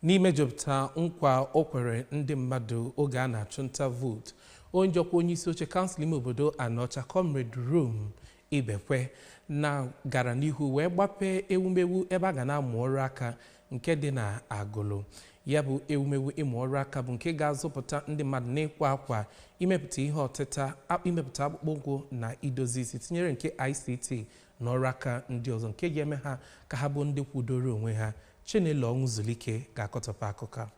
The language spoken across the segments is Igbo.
n'imejupụta nkwa o kwere ndị mmadụ oge a na-achụ nta vootu onye ji ọkwa onye isi oche kansụl ime obodo Anaọcha Comrade Rom Ibekwe na gara n'ihu wee gbapee ewumewu ebe a ga na-amụ ọrụ aka nke dị na Agụlụ ya bụ ewumewu ịmụ ọrụ aka bụ nke ga-azụpụta ndị mmadụ n'ịkwa akwa imepụta ihe ọtịta imepụta akpụkpọ ụkwụ na idozi isi tinyere nke ICT na ọrụ aka ndị ọzọ nke ga-eme ha ka ha bụ ndị kwudoro onwe ha Chinelo Ọnwụzulike ga-akọtọpụ akụkọ a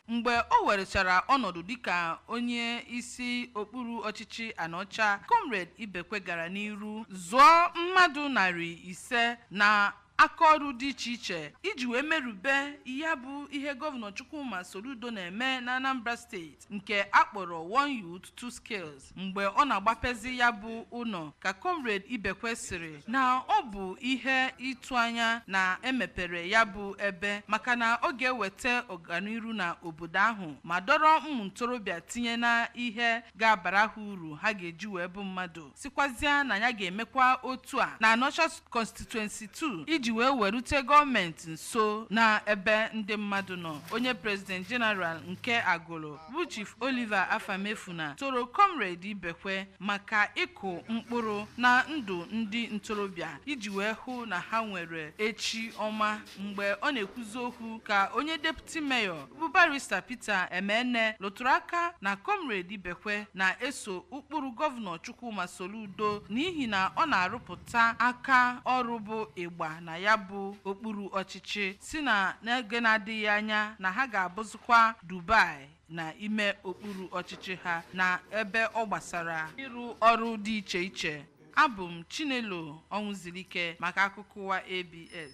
mgbe o werechara ọnọdụ dịka onye isi okpuru ọchịchị Anaọcha Comrade Ibekwe gara n'iru zụọ mmadụ narị ise na akaọrụ dị iche iche iji wee merube ya bụ ihe gọvanọ Chukwuma Soludo na-eme na Anambra steeti nke a kpọrọ One Youth Two Skills mgbe ọ na-agbapezi ya bụ ụlọ ka comrade Ibekwe sịrị na ọ bụ ihe ịtụ anya na e mepere ya bụ ebe maka na ọ ga-eweta ọganiru na obodo ahụ ma dọrọ ụmụ ntorobịa tinye na ihe ga-abara ha uru ha ga-eji wee bụ mmadụ sịkwazịa na ya ga-emekwa otu a na Anaọcha Constituency 2 iji wee werute gọọmenti nso na ebe ndị mmadụ nọ onye President General nke Agụlụ bụ Chief Oliver Afamefuna toro Comrade Ibekwe maka ịkụ mkpụrụ na ndụ ndị ntorobịa iji wee hụ na ha nwere echi ọma mgbe ọ na-ekwuzi okwu ka onye Deputy Mayor bụ Barrister Peter Emene lụtụrụ aka na comrade Ibekwe na-eso ụkpụrụ gọvanọ Chukwuma Soludo n'ihi na ọ na-arụpụta aka ọrụ bụ ịgba na ya bụ okpuru ọchịchị sị na n'oge na-adịghị anya na ha ga-abụzikwa Dubai na ime okpuru ọchịchị ha na ebe ọ gbasara ịrụ ọrụ dị iche iche abụ m Chinelo Ọnwụzulike maka akụkọ ụwa ABS